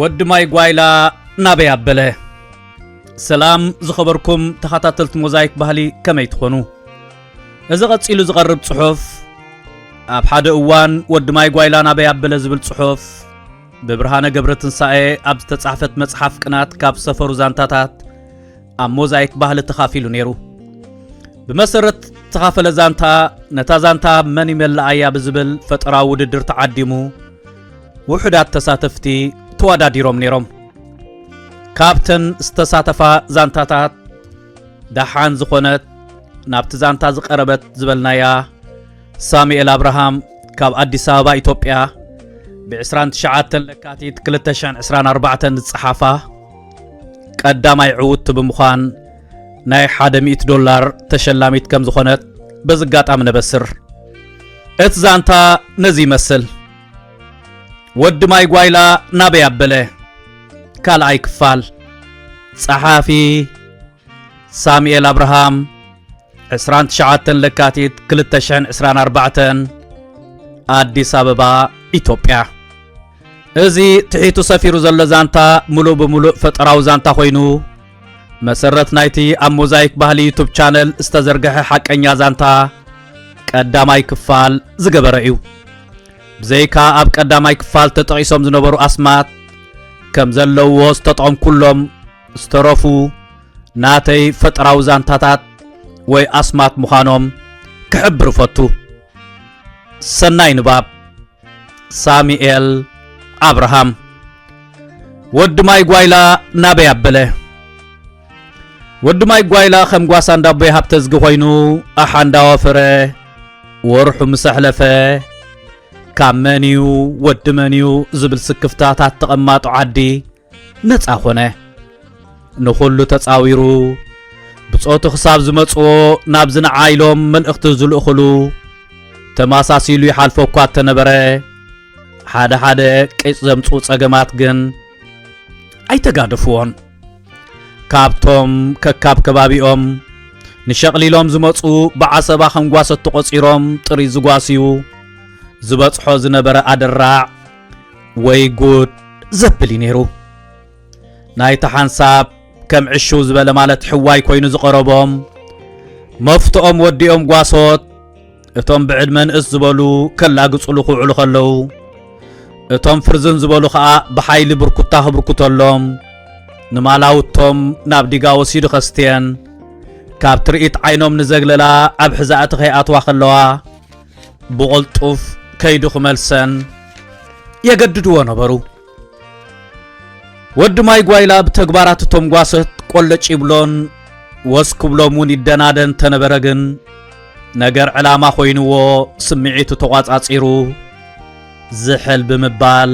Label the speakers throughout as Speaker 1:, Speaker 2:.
Speaker 1: ወዲ ማይ ጓይላ ናበይ ኣበለ ሰላም ዝኸበርኩም ተኸታተልቲ ሞዛይክ ባህሊ ከመይ ትኾኑ እዚ ቐጺሉ ዝቐርብ ጽሑፍ ኣብ ሓደ እዋን ወዲ ማይ ጓይላ ናበይ ኣበለ ዝብል ጽሑፍ ብብርሃነ ገብረ ትንሳኤ ኣብ ዝተጻሕፈት መጽሓፍ ቅናት ካብ ሰፈሩ ዛንታታት ኣብ ሞዛይክ ባህሊ ተኻፊሉ ነይሩ ብመሰረት ተኻፈለ ዛንታ ነታ ዛንታ መን ይመልኣያ ብዝብል ፈጠራዊ ውድድር ተዓዲሙ ውሑዳት ተሳተፍቲ ተወዳዲሮም ነይሮም። ካብተን ዝተሳተፋ ዛንታታት ደሓን ዝኾነት ናብቲ ዛንታ ዝቐረበት ዝበልናያ ሳሙኤል ኣብርሃም ካብ ኣዲስ ኣበባ ኢትዮጵያ ብ29 ለካቲት 2024 ዝጸሓፋ ቀዳማይ ዕውቲ ብምዃን ናይ 100 ዶላር ተሸላሚት ከም ዝኾነት በዚ ኣጋጣሚ ነበስር። እቲ ዛንታ ነዚ ይመስል ወዲ ማይ ጓይላ ናበይ ኣበለ ካልኣይ ክፋል ጸሓፊ ሳሙኤል ኣብርሃም 29 ለካቲት 224 ኣዲስ ኣበባ ኢትዮጵያ እዚ ትሒቱ ሰፊሩ ዘሎ ዛንታ ምሉእ ብምሉእ ፈጠራዊ ዛንታ ኮይኑ መሰረት ናይቲ ኣብ ሞዛይክ ባህሊ ዩቱብ ቻነል ዝተዘርግሐ ሓቀኛ ዛንታ ቀዳማይ ክፋል ዝገበረ እዩ። ብዘይካ ኣብ ቀዳማይ ክፋል ተጠቒሶም ዝነበሩ ኣስማት ከም ዘለውዎ ዝተጠቐምኩሎም ዝተረፉ ናተይ ፈጠራዊ ዛንታታት ወይ ኣስማት ምዃኖም ክሕብር እፈቱ። ሰናይ ንባብ። ሳሙኤል ኣብርሃም ወዲ ማይ ጓይላ ናበይ ኣበለ ወዲ ማይ ጓይላ ከም ጓሳ እንዳቦይ ሃብተዝጊ ኮይኑ ኣሓ እንዳወፈረ ወርሑ ምስ ኣሕለፈ ካብ መን እዩ ወዲ መን እዩ ዝብል ስክፍታታት ተቐማጦ ዓዲ ነፃ ኮነ ንኹሉ ተፃዊሩ ብጾቱ ክሳብ ዝመጽዎ ናብ ዝንዓ ኢሎም መልእኽቲ ዝልእኽሉ ተመሳሲሉ ይሓልፎ እኳ እተነበረ ሓደ ሓደ ቂጽ ዘምጽኡ ጸገማት ግን ኣይተጋደፍዎን ካብቶም ከካብ ከባቢኦም ንሸቕሊሎም ዝመጹ ብዓሰባ ከንጓሰት ተቖጺሮም ጥሪ ዝጓስዩ ዝበጽሖ ዝነበረ ኣደራዕ ወይ ጉድ ዘብል እዩ ነይሩ ናይቲ ሓንሳብ ከም ዕሽው ዝበለ ማለት ሕዋይ ኮይኑ ዝቐረቦም መፍትኦም ወዲኦም ጓሶት እቶም ብዕድመ ንእስ ዝበሉ ከላግጽሉ ክውዕሉ ከለዉ እቶም ፍርዝን ዝበሉ ኸኣ ብሓይሊ ብርኩታ ክብርኩተሎም ንማላውቶም ናብ ዲጋ ወሲዱ ከስትየን ካብ ትርኢት ዓይኖም ንዘግለላ ኣብ ሕዛእቲ ከይኣትዋ ከለዋ ብቕልጡፍ ከይዱ ክመልሰን የገድድዎ ነበሩ። ወዲ ማይ ጓይላ ብተግባራት እቶም ጓሰት ቆለጭ ይብሎን ወስ ክብሎም እውን ይደናደን ተነበረ ግን ነገር ዕላማ ኮይንዎ ስምዒቱ ተቋጻጺሩ ዝሕል ብምባል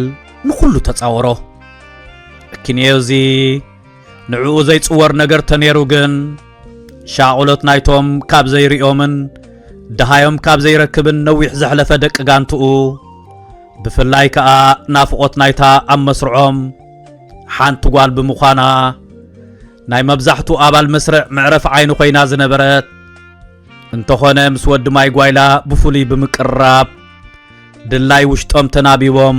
Speaker 1: ንኹሉ ተጻወሮ እኪንዮ እዚ ንዕኡ ዘይጽወር ነገር ተነይሩ ግን ሻቕሎት ናይቶም ካብ ዘይርእዮምን ደሃዮም ካብ ዘይረክብን ነዊሕ ዘሕለፈ ደቂ ጋንትኡ ብፍላይ ከኣ ናፍቖት ናይታ ኣብ መስርዖም ሓንቲ ጓል ብምዃና ናይ መብዛሕቱ ኣባል መስርዕ መዕረፍ ዓይኒ ኮይና ዝነበረት እንተኾነ ምስ ወዲ ማይ ጓይላ ብፍሉይ ብምቅርራብ ድላይ ውሽጦም ተናቢቦም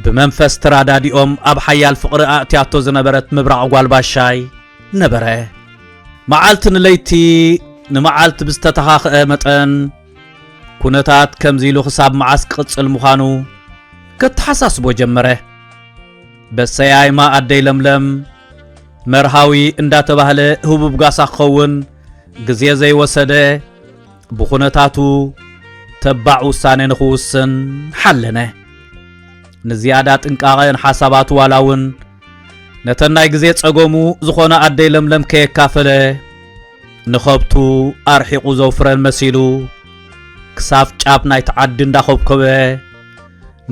Speaker 1: ብመንፈስ ተራዳዲኦም ኣብ ሓያል ፍቕሪ ኣእትያቶ ዝነበረት ምብራቕ ጓልባሻይ ነበረ መዓልቲ ንለይቲ ንመዓልቲ ብዝተተኻኽአ መጠን ኩነታት ከምዚ ኢሉ ክሳብ መዓስ ክቕጽል ምዃኑ ከተሓሳስቦ ጀመረ። በሰያይማ ኣደይ ለምለም መርሃዊ እንዳተባህለ ህቡብ ጋሳ ክኸውን ግዜ ዘይወሰደ ብኹነታቱ ተባዕ ውሳነ ንኽውስን ሓለነ። ንዝያዳ ጥንቃቐ ንሓሳባቱ ዋላ እውን ነተን ናይ ግዜ ጸገሙ ዝኾነ ኣደይ ለምለም ከየካፈለ ንኸብቱ ኣርሒቑ ዘውፍረን መሲሉ ክሳብ ጫፍ ናይቲ ዓዲ እንዳኾብኮበ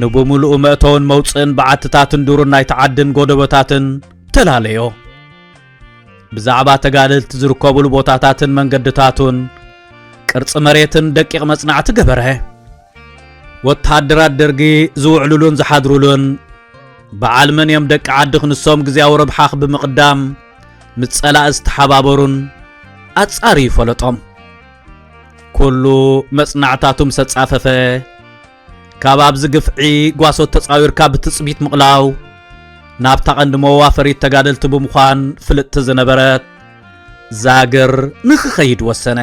Speaker 1: ንብምልኡ መእተውን መውፅእን በዓትታትን ዱርን ናይቲ ዓድን ጎደቦታትን ተላለዮ ብዛዕባ ተጋደልቲ ዝርከቡሉ ቦታታትን መንገድታቱን ቅርፂ መሬትን ደቂቕ መጽናዕቲ ገበረ ወተሃደራት ደርጊ ዝውዕሉሉን ዝሓድሩሉን በዓል መን እዮም ደቂ ዓዲ ክንሶም ግዜያዊ ረብሓ ብምቕዳም ምስ ጸላኢ ዝተሓባበሩን ኣጻሪ ይፈለጦም ኩሉ መጽናዕታቱ ምስ ኣጻፈፈ ካብ ኣብዚ ግፍዒ ጓሶት ተጻዊርካ ብትጽቢት ምቕላው ናብታ ቐንዲ መዋፈሪት ተጋደልቲ ብምዃን ፍልጥቲ ዝነበረት ዛግር ንክኸይድ ወሰነ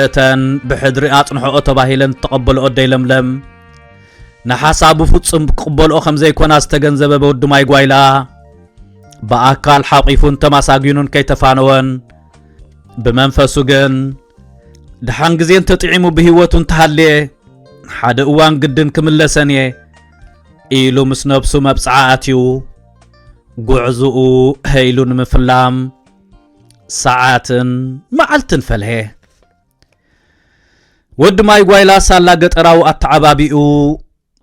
Speaker 1: እተን ብሕድሪ ኣጽንሖኦ ተባሂለን ዝተቐበልኦ ኣደይ ለምለም ንሓሳቡ ፍጹም ክቕበልኦ ከም ዘይኮና ዝተገንዘበ በወዲ ማይ ጓይላ ብኣካል ሓቂፉን ተማሳጊኑን ከይተፋነወን ብመንፈሱ ግን ድሓን ግዜ እንተጥዒሙ ብህይወቱ እንተሃልየ ሓደ እዋን ግድን ክምለሰን እየ ኢሉ ምስ ነብሱ መብጽዓ ኣትዩ ጉዕዝኡ ሀይሉ ንምፍላም ሰዓትን መዓልትን ፈልሔ ወዲ ማይ ጓይላ ሳላ ገጠራዊ ኣተዓባቢኡ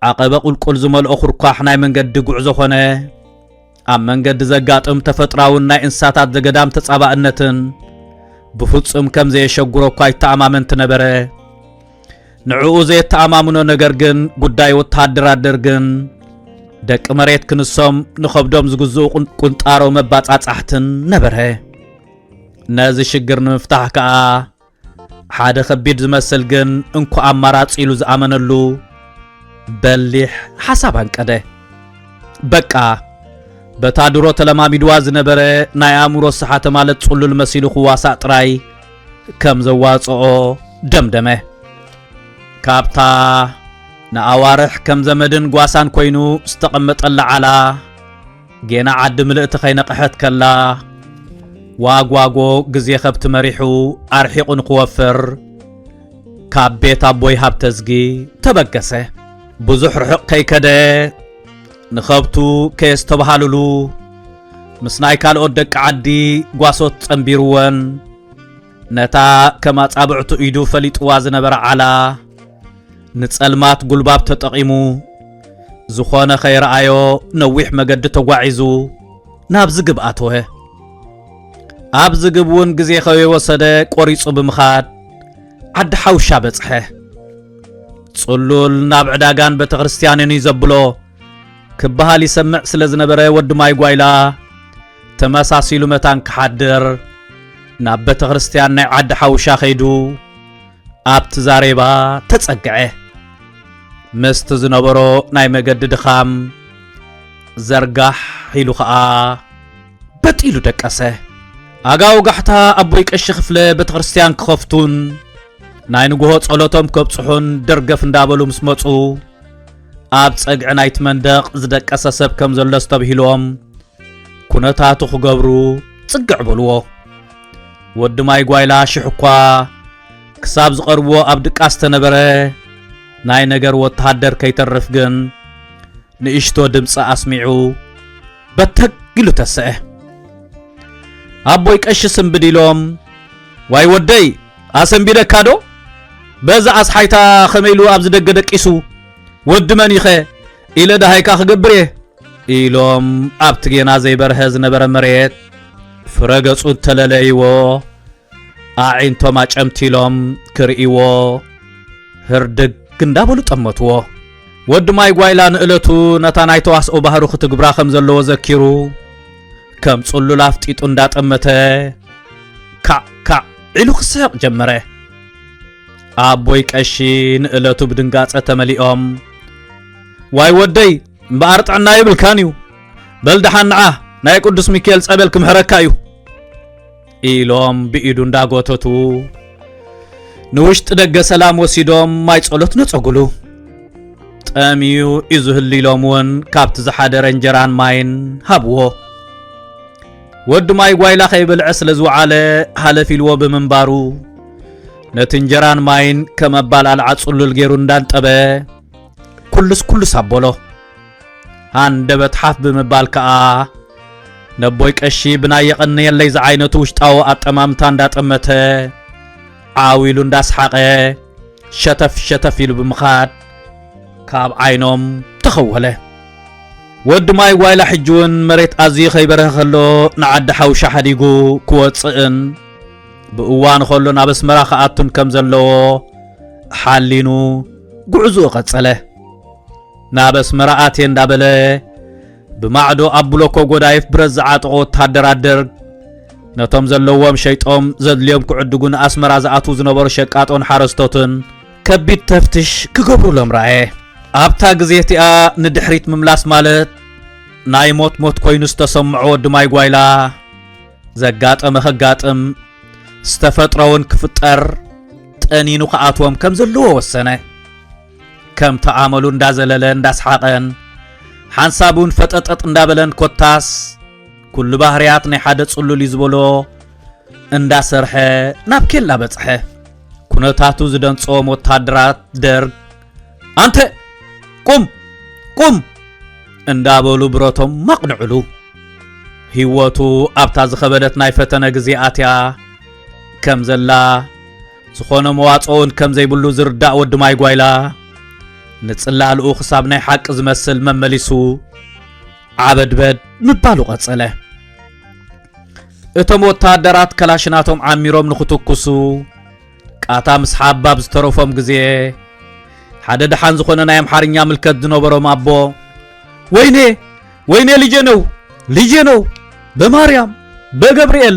Speaker 1: ዓቐበ ቁልቁል ዝመልኦ ኩርኳሕ ናይ መንገዲ ጉዕዞ ኾነ ኣብ መንገዲ ዘጋጥም ተፈጥራውን ናይ እንስሳታት ዘገዳም ተጻባእነትን ብፍጹም ከም ዘየሸጉሮ እኳ ይተኣማመንቲ ነበረ ንዕኡ ዘየተኣማምኖ ነገር ግን ጉዳይ ወተሃደር ኣደር ግን ደቂ መሬት ክንሶም ንኸብዶም ዝግዝኡ ቁንጣሮ መባጻጻሕትን ነበረ ነዚ ሽግር ንምፍታሕ ከኣ ሓደ ከቢድ ዝመስል ግን እንኳ ኣማራጺ ኢሉ ዝኣመነሉ በሊሕ ሓሳብ ኣንቀደ በቃ በታ ድሮ ተለማሚድዋ ዝነበረ ናይ ኣእምሮ ሰሓተ ማለት ጽሉል መሲሉ ክዋሳእ ጥራይ ከም ዘዋጽኦ ደምደመ። ካብታ ንኣዋርሕ ከም ዘመድን ጓሳን ኮይኑ ዝተቐመጠላ ዓላ ጌና ዓዲ ምልእቲ ከይነቕሐት ከላ ዋጓጎ ግዜ ከብቲ መሪሑ ኣርሒቑ ንክወፍር ካብ ቤት ኣቦይ ሃብተዝጊ ተበገሰ። ብዙሕ ርሑቕ ከይከደ ንኸብቱ ከየስተብሃልሉ ምስ ናይ ካልኦት ደቂ ዓዲ ጓሶት ጸንቢርወን ነታ ከም ኣጻብዕቱ ኢዱ ፈሊጥዋ ዝነበረ ዓላ ንጸልማት ጉልባብ ተጠቒሙ ዝኾነ ኸይረኣዮ ነዊሕ መገዲ ተጓዒዙ ናብ ዝግብ ኣተወ። ኣብ ዝግብ እውን ግዜ ኸይወሰደ ቆሪጹ ብምኻድ ዓዲ ሓውሻ በጽሐ። ጽሉል ናብ ዕዳጋን ቤተ ክርስቲያንን እዩ ዘብሎ ክበሃል ይሰምዕ ስለ ዝነበረ ወዲ ማይ ጓይላ ተመሳሲሉ መታን ክሓድር ናብ ቤተ ክርስቲያን ናይ ዓዲ ሓውሻ ኸይዱ ኣብቲ ዛሬባ ተጸግዐ። ምስቲ ዝነበሮ ናይ መገዲ ድኻም ዘርጋሕ ኢሉ ኸኣ በጥ ኢሉ ደቀሰ። ኣጋ ወጋሕታ ኣቦይ ቀሺ ክፍለ ቤተክርስትያን ክኸፍቱን ናይ ንግሆ ጸሎቶም ከብጽሑን ደርገፍ እንዳበሉ ምስ መጹ ኣብ ጸግዒ ናይቲ መንደቕ ዝደቀሰ ሰብ ከም ዘሎ ኣስተብሂሎም ኩነታቱ ክገብሩ ጽግዕ በልዎ። ወዲ ማይ ጓይላ ሽሕ እኳ ክሳብ ዝቐርብዎ ኣብ ድቃስ ተነበረ ናይ ነገር ወተሃደር ከይተርፍ ግን ንእሽቶ ድምፂ ኣስሚዑ በተግ ኢሉ ተሰዐ። ኣቦይ ቀሺ ስንብድ ኢሎም ዋይ ወደይ ኣሰንቢደካ ዶ በዛ ኣስሓይታ ከመይ ኢሉ ኣብዚ ደገ ደቂሱ ወዲ መን ኢኸ ኢለ ደሃይካ ክገብር እየ ኢሎም ኣብቲ ጌና ዘይበርሀ ዝነበረ መሬት ፍረ ገጹ እተለለይዎ ኣዒንቶም ኣጨምቲሎም ክርእይዎ ህርድግ እንዳበሉ ጠመትዎ። ወዲ ማይ ጓይላ ንእለቱ ነታ ናይ ተዋስኦ ባህሩ ክትግብራ ከም ዘለዎ ዘኪሩ ከም ጽሉል ኣፍጢጡ እንዳጠመተ ካዕ ካዕ ኢሉ ክስሕቕ ጀመረ ኣቦይ ቀሺ ንእለቱ ብድንጋጸ ተመሊኦም ዋይ ወደይ እምበኣር ጥዕና ይብልካን እዩ በል ደሓን ንዓ ናይ ቅዱስ ሚካኤል ጸበል ክምሕረካ እዩ ኢሎም ብኢዱ እንዳጎተቱ ንውሽጢ ደገ ሰላም ወሲዶም ማይ ጸሎት ነጸጉሉ ጠምዩ እዩ ዝህሉ ኢሎም እውን ካብቲ ዝሓደረ እንጀራን ማይን ሃብዎ ወዲ ማይ ጓይላ ከይበልዐ ስለ ዝውዓለ ሃለፍ ኢልዎ ብምንባሩ ነቲ እንጀራን ማይን ከም ኣባል ኣልዓ ጽሉል ገይሩ እንዳንጠበ ኩሉስ ኩሉስ ኣበሎ ሃንደበት ሓፍ ብምባል ከኣ ነቦይ ቀሺ ብናይ የቐንየለይ ዝዓይነቱ ውሽጣዊ ኣጠማምታ እንዳጠመተ ዓው ኢሉ እንዳስሓቐ ሸተፍ ሸተፍ ኢሉ ብምኻድ ካብ ዓይኖም ተኸወለ ወዲ ማይ ዋይላ ሕጂ እውን መሬት ኣዝዩ ከይበረኸ ከሎ ንዓዲ ሓውሻ ሓዲጉ ክወፅእን ብእዋን ከሎ ናብ ኣስመራ ክኣቱን ከም ዘለዎ ሓሊኑ ጉዕዝኡ ቀጸለ ናብ ኣስመራ ኣትየ እንዳበለ ብማዕዶ ኣብ ብሎኮ ጎዳይፍ ብረት ዝዓጠቑ ወተሃደራት ደርግ ነቶም ዘለዎም ሸይጦም ዘድልዮም ክዕድጉ ንኣስመራ ዝኣትዉ ዝነበሩ ሸቃጦን ሓረስቶትን ከቢድ ተፍትሽ ክገብሩሎም ረኣየ ኣብታ ግዜ እቲኣ ንድሕሪት ምምላስ ማለት ናይ ሞት ሞት ኮይኑ ዝተሰምዖ ወዲ ማይ ጓይላ ዘጋጠመ ከጋጥም ዝተፈጥረውን ክፍጠር ጠኒኑ ክኣትዎም ከም ዘለዎ ወሰነ ከምቲ ኣመሉ እንዳዘለለ እንዳስሓቐን ሓንሳብ እውን ፈጠጠጥ እንዳበለን ኮታስ ኩሉ ባህርያት ናይ ሓደ ጽሉል እዩ ዝበሎ እንዳሰርሐ ናብ ኬላ በጽሐ። ኩነታቱ ዝደንጾም ወታደራት ደርግ ኣንተ ቁም ቁም እንዳበሉ ብረቶም ማቕንዕሉ። ህይወቱ ኣብታ ዝኸበደት ናይ ፈተነ ግዜ ኣትያ ከም ዘላ ዝኾነ መዋጽኦውን ከም ዘይብሉ ዝርዳእ ወዲ ማይ ጓይላ ንጽላእልኡ ክሳብ ናይ ሓቂ ዝመስል መመሊሱ ዓበድበድ ምባሉ ቀጸለ እቶም ወታደራት ከላሽናቶም ዓሚሮም ንኽትኩሱ ቃታ ምስ ሓባብ ዝተረፎም ግዜ ሓደ ደሓን ዝኾነ ናይ ኣምሓርኛ ምልከት ዝነበሮም ኣቦ ወይኔ ወይኔ ልጄ ነው ልጄ ነው በማርያም በገብርኤል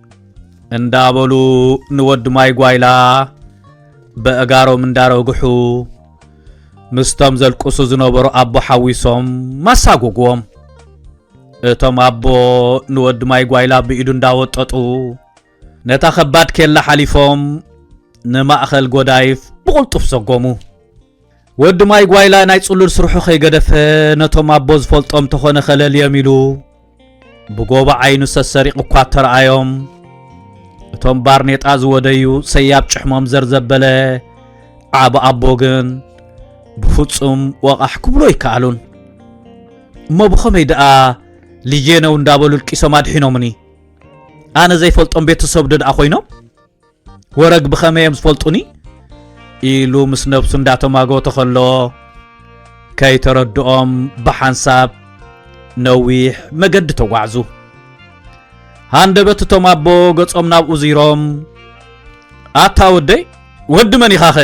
Speaker 1: እንዳበሉ ንወዲ ማይ ጓይላ በእጋሮም እንዳረግሑ ምስቶም ዘልቅሱ ዝነበሩ ኣቦ ሓዊሶም ማሳጎግዎም እቶም ኣቦ ንወዲ ማይ ጓይላ ብኢዱ እንዳወጠጡ ነታ ከባድ ኬላ ሓሊፎም ንማእኸል ጎዳይፍ ብቕልጡፍ ሰጎሙ ወዲ ማይ ጓይላ ናይ ጽሉል ስርሑ ከይገደፈ ነቶም ኣቦ ዝፈልጦም ተኾነ ከለልዮም ኢሉ ብጎቦ ዓይኑ ሰሰሪቑ እኳ ተረኣዮም እቶም ባርኔጣ ዝወደዩ ሰያብ ጭሕሞም ዘርዘበለ ዓብ ኣቦ ግን ብፍጹም ወቓሕ ክብሎ ኣይከኣሉን እሞ ብኸመይ ደኣ ልጄ ነው እንዳበሉ ልቂሶም ኣድሒኖምኒ ኣነ ዘይፈልጦም ቤተሰብ ዶ ደኣ ኮይኖም ወረግ ብኸመይ እዮም ዝፈልጡኒ ኢሉ ምስ ነብሱ እንዳተማጎተ ከሎ ከይተረድኦም ብሓንሳብ ነዊሕ መገዲ ተጓዕዙ ሃንደበት እቶም ኣቦ ገጾም ናብኡ ዚሮም ኣታ ወደይ ወዲ መን ኢኻ ኸ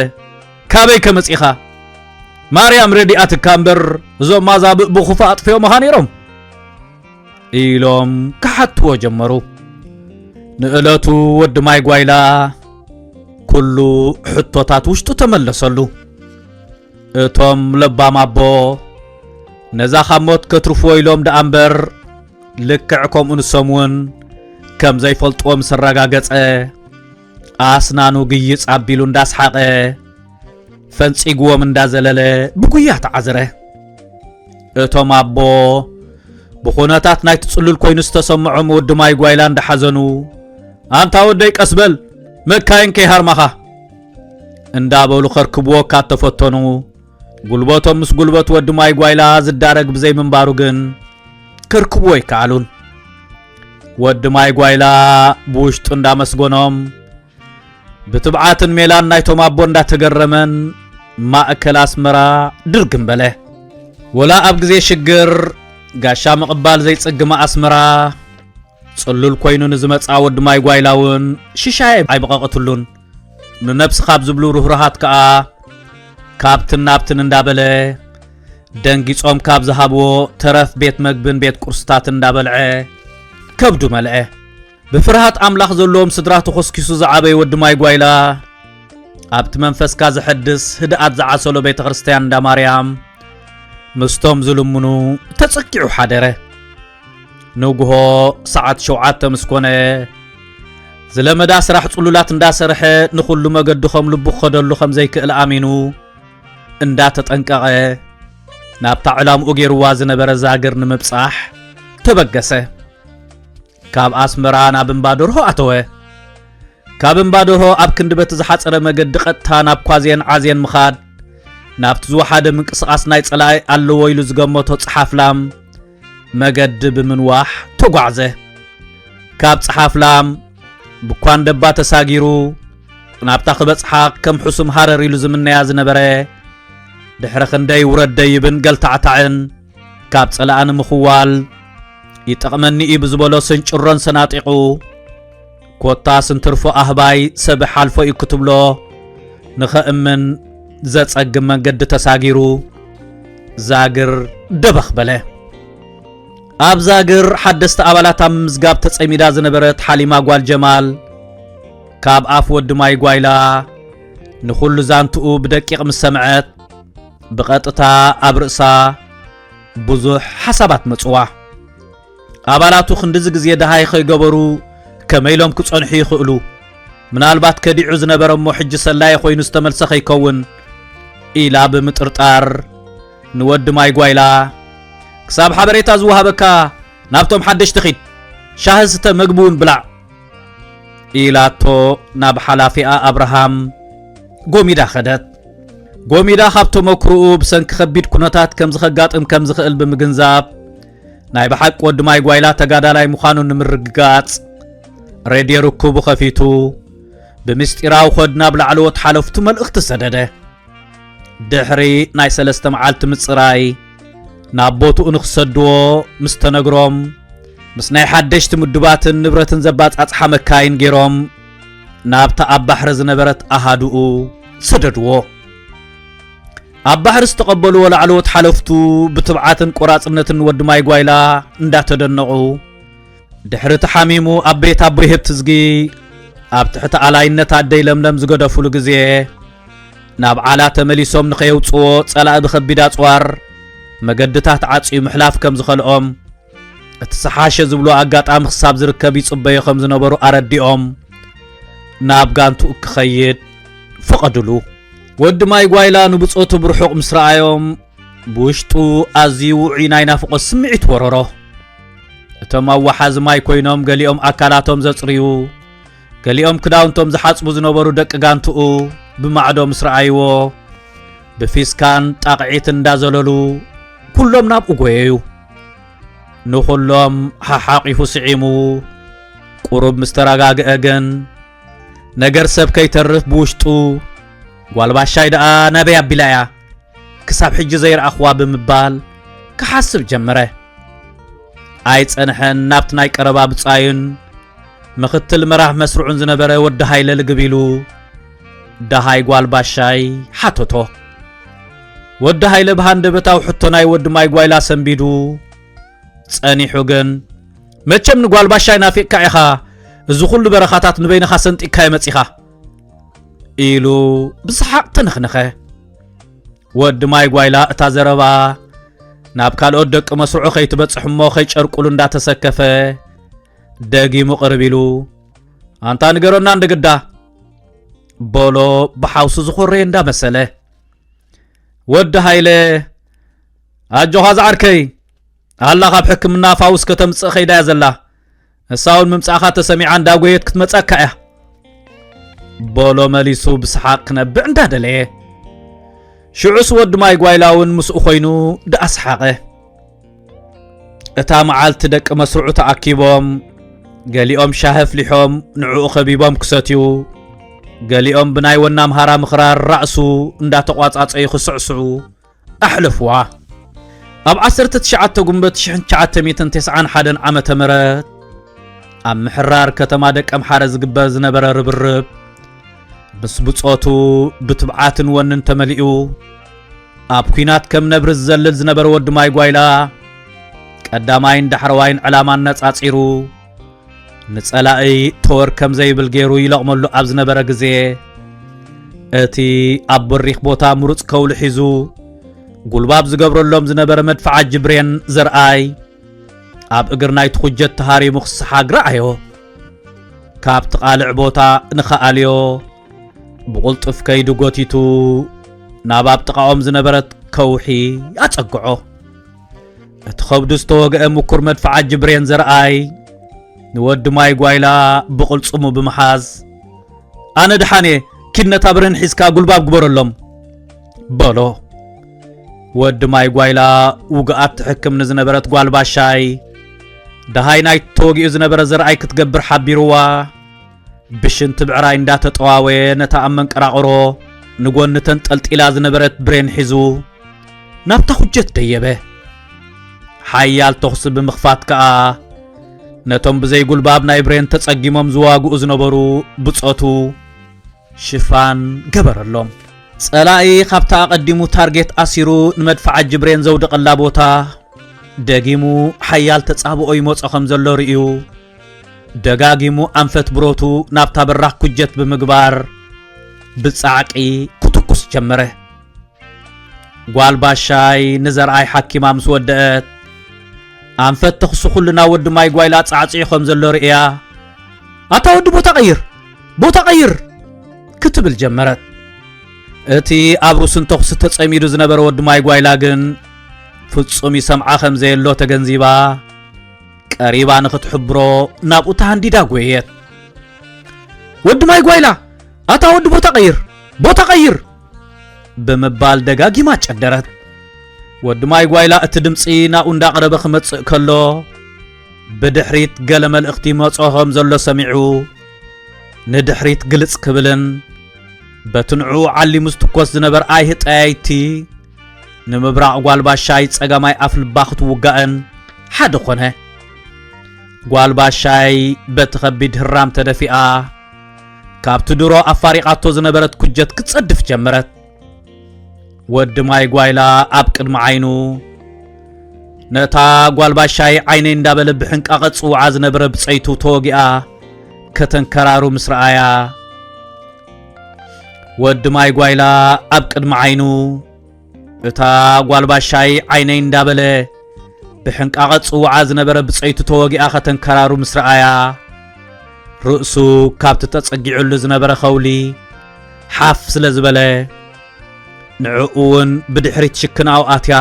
Speaker 1: ካበይ ከመጺኻ ማርያም ረዲኣትካ እምበር እዞም ማዛብእ ብኹፋ ኣጥፍዮምኻ ነይሮም ኢሎም ክሓትዎ ጀመሩ ንእለቱ ወዲ ማይ ጓይላ ኩሉ ሕቶታት ውሽጡ ተመለሰሉ እቶም ለባም ኣቦ ነዛ ካብ ሞት ከትርፍዎ ኢሎም ደኣ እምበር ልክዕ ከምኡ ንሶም እውን ከም ዘይፈልጥዎ ምስ ኣረጋገጸ ኣስናኑ ግይጽ ኣቢሉ እንዳስሓቐ ፈንጺግዎም እንዳዘለለ ብጉያ ተዓዝረ እቶም ኣቦ ብኹነታት ናይቲ ጽሉል ኮይኑ ዝተሰምዖም ወዲ ማይ ጓይላ እንዳሓዘኑ ኣንታ ወደይ ቀስበል መካይን ከይሃርማኻ እንዳበሉ ከርክብዎ ካብ ተፈተኑ ጉልበቶም ምስ ጉልበት ወዲ ማይ ጓይላ ዝዳረግ ብዘይምንባሩ ግን ክርክብዎ ይከኣሉን ወዲ ማይ ጓይላ ብውሽጡ እንዳመስጎኖም ብትብዓትን ሜላን ናይቶም ኣቦ እንዳተገረመን ማእከል ኣስመራ ድርግም በለ ወላ ኣብ ግዜ ሽግር ጋሻ ምቕባል ዘይጽግማ ኣስመራ ጽሉል ኮይኑ ንዝመጽኣ ወዲ ማይ ጓይላ እውን ሽሻይ ኣይበቐቐትሉን ንነብሲ ካብ ዝብሉ ርህሩሃት ከኣ ካብትን ናብትን እንዳበለ ደንጊጾም ካብ ዝሃብዎ ተረፍ ቤት መግብን ቤት ቁርስታት እንዳበልዐ ከብዱ መልዐ ብፍርሃት ኣምላኽ ዘለዎም ስድራ ተኾስኪሱ ዝዓበየ ወዲ ማይ ጓይላ ኣብቲ መንፈስካ ዘሐድስ ህድኣት ዝዓሰሎ ቤተ ክርስትያን እንዳ ማርያም ምስቶም ዝልምኑ ተጸኪዑ ሓደረ ንግሆ ሰዓት ሸውዓተ ምስ ኮነ ዝለመዳ ስራሕ ጽሉላት እንዳሰርሐ ንኹሉ መገዲ ከም ልቡ ክኸደሉ ከም ዘይክእል ኣሚኑ እንዳተጠንቀቐ ናብታ ዕላምኡ ገይርዋ ዝነበረ ዛግር ንምብጻሕ ተበገሰ ካብ ኣስመራ ናብ እምባ ደርሆ ኣተወ ካብ እምባ ደርሆ ኣብ ክንዲ በቲ ዝሓፀረ መገዲ ቐጥታ ናብ ኳዜን ዓዜን ምኻድ ናብቲ ዝወሓደ ምንቅስቓስ ናይ ጸላኢ ኣለዎ ኢሉ ዝገመቶ ጸሓፍላም መገዲ ብምንዋሕ ተጓዕዘ። ካብ ጸሓፍላም ብኳንደባ ተሳጊሩ ናብታ ክበጽሓ ከም ሕሱም ሃረር ኢሉ ዝምነያ ዝነበረ ድሕሪ ክንደይ ውረድ ደይብን ገልታዕታዕን ካብ ጸላኣ ንምኽዋል ይጠቕመኒ እዩ ብዝበሎ ስንጭሮን ሰናጢቑ ኮታስ እንትርፎ ኣህባይ ሰብ ሓልፎ እዩ ክትብሎ ንኸእምን ዘጸግም መንገዲ ተሳጊሩ ዛግር ደበኽ በለ። ኣብ ዛግር ሓደስቲ ኣባላት ኣብ ምዝጋብ ተጸሚዳ ዝነበረት ሓሊማ ጓል ጀማል ካብ ኣፍ ወዲ ማይ ጓይላ ንኹሉ ዛንትኡ ብደቂቕ ምስ ሰምዐት ብቐጥታ ኣብ ርእሳ ብዙሕ ሓሳባት መጽዋ። ኣባላቱ ክንድዚ ግዜ ደሃይ ከይገበሩ ከመይ ኢሎም ክጸንሑ ይኽእሉ? ምናልባት ከዲዑ ዝነበረ እሞ ሕጂ ሰላዪ ኮይኑ ዝተመልሰ ከይከውን ኢላ ብምጥርጣር ንወዲ ማይ ጓይላ ክሳብ ሓበሬታ ዝወሃበካ ናብቶም ሓደሽቲ ኺድ ሻሂ ስተ መግቢ እውን ብላዕ ኢላቶ ናብ ሓላፊኣ ኣብርሃም ጎሚዳ ኸደት። ጎሚዳ ካብ ተመክሮኡ ብሰንኪ ከቢድ ኩነታት ከምዚ ከጋጥም ከም ዝኽእል ብምግንዛብ ናይ ብሓቂ ወዲ ማይ ጓይላ ተጋዳላይ ምዃኑ ንምርግጋጽ ሬድዮ ርክቡ ኸፊቱ ብምስጢራዊ ኾድ ናብ ላዕለዎት ሓለፍቱ መልእኽቲ ሰደደ ድሕሪ ናይ ሰለስተ መዓልቲ ምጽራይ ናብ ቦትኡ ንኽሰድዎ ምስ ተነግሮም ምስ ናይ ሓደሽቲ ምዱባትን ንብረትን ዘባጻጽሓ መካይን ገይሮም ናብታ ኣብ ባሕሪ ዝነበረት ኣሃዱኡ ሰደድዎ ኣብ ባሕሪ ዝተቐበልዎ ላዕለዎት ሓለፍቱ ብትብዓትን ቆራጽነትን ወዲ ማይ ጓይላ እንዳተደነቑ ድሕሪ ተሓሚሙ ኣብ ቤት ኣቦይ ህብትዝጊ ኣብ ትሕቲ ኣላይነት ኣደይ ለምለም ዝገደፍሉ ግዜ ናብ ዓላ ተመሊሶም ንኸየውጽዎ ጸላኢ ብኸቢድ ኣጽዋር መገድታት ዓጽዩ ምሕላፍ ከም ዝኸልኦም እቲ ዝሓሸ ዝብሎ ኣጋጣሚ ክሳብ ዝርከብ ይጽበዮ ከም ዝነበሩ ኣረዲኦም ናብ ጋንትኡ ክኸይድ ፈቐድሉ ወዲ ማይ ጓይላ ንብጾቱ ብርሑቕ ምስ ረኣዮም ብውሽጡ ኣዝዩ ውዑይ ናይ ናፍቖት ስምዒት ወረሮ እቶም ኣዋሓዚ ማይ ኮይኖም ገሊኦም ኣካላቶም ዘጽርዩ ገሊኦም ክዳውንቶም ዝሓጽቡ ዝነበሩ ደቂ ጋንትኡ ብማዕዶ ምስ ረኣይዎ ብፊስካን ጣቕዒት እንዳዘለሉ ኩሎም ናብኡ ጎየዩ ንዅሎም ሓሓቒፉ ስዒሙ ቁሩብ ምስ ተረጋግአ ግን ነገር ሰብ ከይተርፍ ብውሽጡ ጓልባሻይ ደኣ ናበይ ኣቢላ እያ ክሳብ ሕጂ ዘይረኣኽዋ ብምባል ክሓስብ ጀመረ ኣይጸንሐን ናብቲ ናይ ቀረባ ብጻዩን ምኽትል መራሕ መስርዑን ዝነበረ ወዲ ሃይለ ልግብ ኢሉ ደሃይ ጓል ባሻይ ሓተቶ። ወዲ ሃይለ ብሃንደበታዊ ሕቶ ናይ ወዲ ማይ ጓይላ ሰንቢዱ ጸኒሑ ግን መቸም ንጓል ባሻይ ናፊቕካ ኢኻ እዚ ኹሉ በረኻታት ንበይንኻ ሰንጢካ የመጺኻ ኢሉ ብሰሓቕ ተነኽነኸ ወዲ ማይ ጓይላ እታ ዘረባ ናብ ካልኦት ደቂ መስርዑ ከይትበጽሕ እሞ ከይጨርቁሉ እንዳተሰከፈ ደጊሙ ቅርብ ኢሉ ኣንታ ንገረና እንደግዳ ቦሎ ብሓውሱ ዝኾረየ እንዳመሰለ ወዲ ሃይለ ኣጆኻ ዝዓርከይ ኣላ ካብ ሕክምና ፋውስ ከተምፅእ ከይዳ እያ ዘላ ንሳውን ምምፃእኻ ተሰሚዓ እንዳጎየት ክትመፀካ እያ ቦሎ መሊሱ ብስሓቅ ክነብዕ እንዳደለየ ሽዑስ ወዲ ማይ ጓይላ እውን ምስኡ ኮይኑ ደኣ ሰሓቐ እታ መዓልቲ ደቂ መስርዑ ተኣኪቦም ገሊኦም ሻሂ ኣፍሊሖም ንዕኡ ኸቢቦም ክሰትዩ ገሊኦም ብናይ ወና ኣምሃራ ምኽራር ራእሱ እንዳተቋጻጸዩ ክስዕስዑ ኣሕለፍዋ ኣብ 19 ጉንበት 1991 ዓመተ ምህረት ኣብ ምሕራር ከተማ ደቀምሓረ ዝግበር ዝነበረ ርብርብ ምስ ብጾቱ ብትብዓትን ወንን ተመሊኡ ኣብ ኲናት ከም ነብሪ ዝዘልል ዝነበረ ወዲ ማይ ጓይላ ቀዳማይን ዳሕረዋይን ዕላማ ኣነጻጺሩ ንጸላኢ ተወር ከም ዘይብል ገይሩ ይለቕመሉ ኣብ ዝነበረ ግዜ እቲ ኣብ በሪኽ ቦታ ምሩጽ ከውሊ ሒዙ ጉልባብ ዝገብረሎም ዝነበረ መድፍዓ ጅብሬን ዘርኣይ ኣብ እግር ናይቲ ኩጀት ተሃሪሙ ክሰሓግ ረኣዮ ካብቲ ቓልዕ ቦታ ንኸኣልዮ ብቝልጡፍ ከይዱ ጐቲቱ ናብ ኣብ ጥቓኦም ዝነበረት ከውሒ ኣጸግዖ እቲ ኸብዱ ዝተወግአ ምኩር መድፍዓት ጅብሬን ዘርኣይ ንወዲ ማይ ጓይላ ብቕልጽሙ ብምሓዝ ኣነ ድሓን እየ ኪድ ነታ ብርህን ሒዝካ ጉልባብ ግበረሎም በሎ ወዲ ማይ ጓይላ ውግኣት ትሕክም ንዝነበረት ጓል ባሻይ ደሃይ ናይ ተወጊኡ ዝነበረ ዘርኣይ ክትገብር ሓቢርዋ ብሽንቲ ብዕራይ እንዳተጠዋወ ነታ ኣብ መንቀራቕሮ ንጎኒ ተንጠልጢላ ዝነበረት ብሬን ሒዙ ናብታ ኩጀት ደየበ ሓያል ተኹሲ ብምኽፋት ከኣ ነቶም ብዘይ ጉልባብ ናይ ብሬን ተጸጊሞም ዝዋግኡ ዝነበሩ ብጾቱ ሽፋን ገበረሎም ጸላኢ ካብታ ኣቐዲሙ ታርጌት ኣሲሩ ንመድፍዓጂ ብሬን ዘውድቐላ ቦታ ደጊሙ ሓያል ተጻብኦ ይመጾ ከም ዘሎ ርእዩ ደጋጊሙ ኣንፈት ብረቱ ናብታ በራኽ ኩጀት ብምግባር ብጻዕቂ ክትኩስ ጀመረ። ጓል ባሻይ ንዘርኣይ ሓኪማ ምስ ወደአት ኣንፈት ተኽሱ ኩልና ወዲ ማይ ጓይላ ጻዕጽዑ ከም ዘሎ ርእያ ኣታ ወዲ ቦታ ቀይር ቦታ ቀይር ክትብል ጀመረት። እቲ ኣብ ሩስን ተኹሲ ተጸሚዱ ዝነበረ ወዲ ማይ ጓይላ ግን ፍጹም ይሰምዓ ከም ዘየሎ ተገንዚባ ቀሪባ ንኽትሕብሮ ናብኡ ተሃንዲዳ ጐየት። ወዲ ማይ ጓይላ ኣታ ወዲ ቦታ ቀይር ቦታ ቀይር ብምባል ደጋጊማ ጨደረት። ወዲ ማይ ጓይላ እቲ ድምፂ ናብኡ እንዳቐረበ ክመጽእ ከሎ ብድሕሪት ገለ መልእኽቲ ይመጾ ከም ዘሎ ሰሚዑ ንድሕሪት ግልጽ ክብልን በቲ ንዕኡ ዓሊሙ ዝትኮስ ዝነበር ኣይሂ ጠያይቲ ንምብራቕ ጓልባሻይ ጸጋማይ ኣፍልባ ክትውጋእን ሓደ ኾነ ጓልባሻይ በቲ ኸቢድ ህራም ተደፊኣ ካብቲ ድሮ ኣፋሪቓቶ ዝነበረት ኩጀት ክትጸድፍ ጀመረት ወዲ ማይ ጓይላ ኣብ ቅድሚ ዓይኑ ነታ ጓልባሻይ ዓይነይ እንዳበለ ብሕንቃቐ ጽውዓ ዝነበረ ብጸይቱ ተወጊኣ ከተንከራሩ ምስ ረኣያ ወዲ ማይ ጓይላ ኣብ ቅድሚ ዓይኑ እታ ጓልባሻይ ዓይነይ እንዳበለ ብሕንቃቐ ጽውዓ ዝነበረ ብጸይቱ ተወጊኣ ከተንከራሩ ምስ ረኣያ ርእሱ ካብቲ ተጸጊዑሉ ዝነበረ ኸውሊ ሓፍ ስለ ዝበለ ንዕኡ እውን ብድሕሪት ሽክናኡ ኣትያ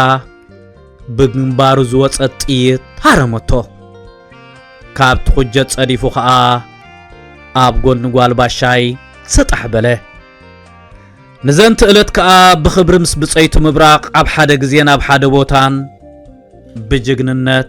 Speaker 1: ብግንባሩ ዝወፀት ጥይት ሃረመቶ ካብቲ ኩጀት ጸዲፉ ኸኣ ኣብ ጎኒ ጓል ባሻይ ሰጣሕ በለ ንዘንቲ ዕለት ከኣ ብኽብሪ ምስ ብፀይቱ ምብራቕ ኣብ ሓደ ግዜን ኣብ ሓደ ቦታን ብጅግንነት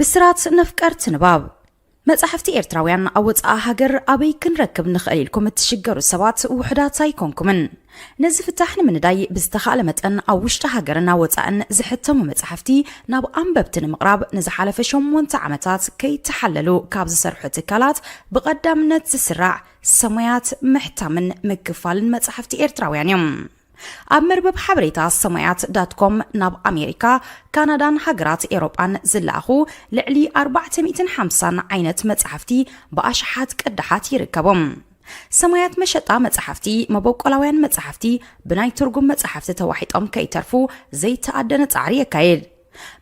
Speaker 2: ብስራት ነፍቀርቲ ንባብ መጻሕፍቲ ኤርትራውያን ኣብ ወጻኢ ሃገር ኣበይ ክንረክብ ንኽእል ኢልኩም እትሽገሩ ሰባት ውሑዳት ኣይኮንኩምን ነዚ ፍታሕ ንምንዳይ ብዝተኻእለ መጠን ኣብ ውሽጢ ሃገርን ኣብ ወጻእን ዝሕተሙ መጻሕፍቲ ናብ ኣንበብቲ ንምቕራብ ንዝሓለፈ ሸሞንተ ዓመታት ከይተሓለሉ ካብ ዝሰርሑ ትካላት ብቐዳምነት ዝስራዕ ሰሙያት ምሕታምን ምክፋልን መጻሕፍቲ ኤርትራውያን እዮም። ኣብ መርበብ ሓበሬታ ሰሙያት ዳት ኮም ናብ ኣሜሪካ፣ ካናዳን ሃገራት ኤውሮጳን ዝለኣኹ ልዕሊ ኣርባዕተ ሚእትን ሓምሳን ዓይነት መጻሕፍቲ ብኣሽሓት ቅዳሓት ይርከቦም። ሰማያት መሸጣ መጻሕፍቲ፣ መበቆላውያን መጻሕፍቲ ብናይ ትርጉም መጻሕፍቲ ተዋሒጦም ከይተርፉ ዘይተኣደነ ጻዕሪ የካይድ።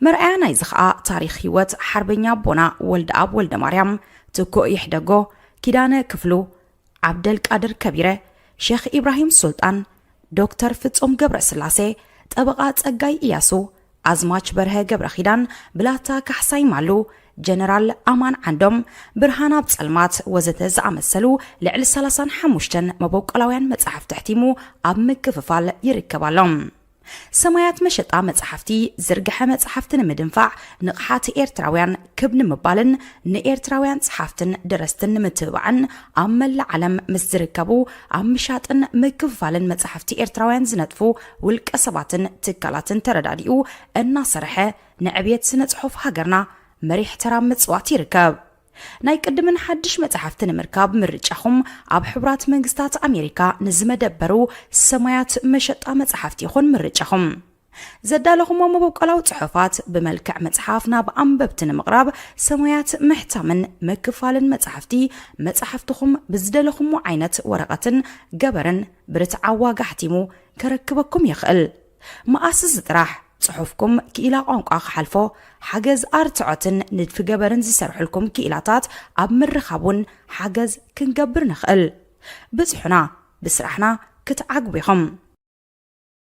Speaker 2: መርኣያ ናይዚ ኸኣ ታሪኽ ህይወት ሓርበኛ ኣቦና ወልደኣብ ወልደማርያም፣ ትኩእ ይሕደጎ፣ ኪዳነ ክፍሉ፣ ዓብደልቃድር ከቢረ፣ ሼኽ ኢብራሂም ሱልጣን፣ ዶክተር ፍጹም ገብረስላሴ፣ ጠበቓ ጸጋይ ኢያሱ፣ ኣዝማች በርሀ ገብረኺዳን፣ ብላታ ካሕሳይ ማሉ፣ ጀነራል ኣማን ዓንዶም፣ ብርሃናብ ጸልማት ወዘተ ዝኣመሰሉ ልዕሊ ሰላሳን ሓሙሽተን መበቆላውያን መጻሕፍቲ ኣሕቲሙ ኣብ ምክፍፋል ይርከብ ኣሎ። ሰማያት መሸጣ መጻሕፍቲ ዝርግሐ መጻሕፍቲ ንምድንፋዕ ንቕሓት ኤርትራውያን ክብ ንምባልን ንኤርትራውያን ጸሓፍትን ደረስትን ንምትብባዕን ኣብ መላእ ዓለም ምስ ዝርከቡ ኣብ ምሻጥን ምክፍፋልን መጻሕፍቲ ኤርትራውያን ዝነጥፉ ውልቀ ሰባትን ትካላትን ተረዳዲኡ እናሰርሐ ንዕብየት ስነ ጽሑፍ ሃገርና መሪሕ ተራ ኣብ ምጽዋት ይርከብ። ናይ ቅድምን ሓድሽ መጻሕፍቲ ንምርካብ ምርጫኹም ኣብ ሕቡራት መንግስታት ኣሜሪካ ንዝመደበሩ ሰማያት መሸጣ መጻሕፍቲ ይኹን ምርጫኹም። ዘዳለኹሞ መበቆላዊ ጽሑፋት ብመልክዕ መጽሓፍ ናብ ኣንበብቲ ንምቕራብ ሰማያት ምሕታምን ምክፋልን መጻሕፍቲ መጻሕፍትኹም ብዝደለኹሞ ዓይነት ወረቐትን ገበርን ብርትዓዊ ዋጋ ኣሕቲሙ ከረክበኩም ይኽእል። መኣስስ ጥራሕ ጽሑፍኩም ክኢላ ቋንቋ ክሓልፎ ሓገዝ ኣርትዖትን ንድፊ ገበርን ዝሰርሑልኩም ክኢላታት ኣብ ምርኻብ እውን ሓገዝ ክንገብር ንኽእል። ብጽሑና፣ ብስራሕና ክትዓግቡ ኢኹም።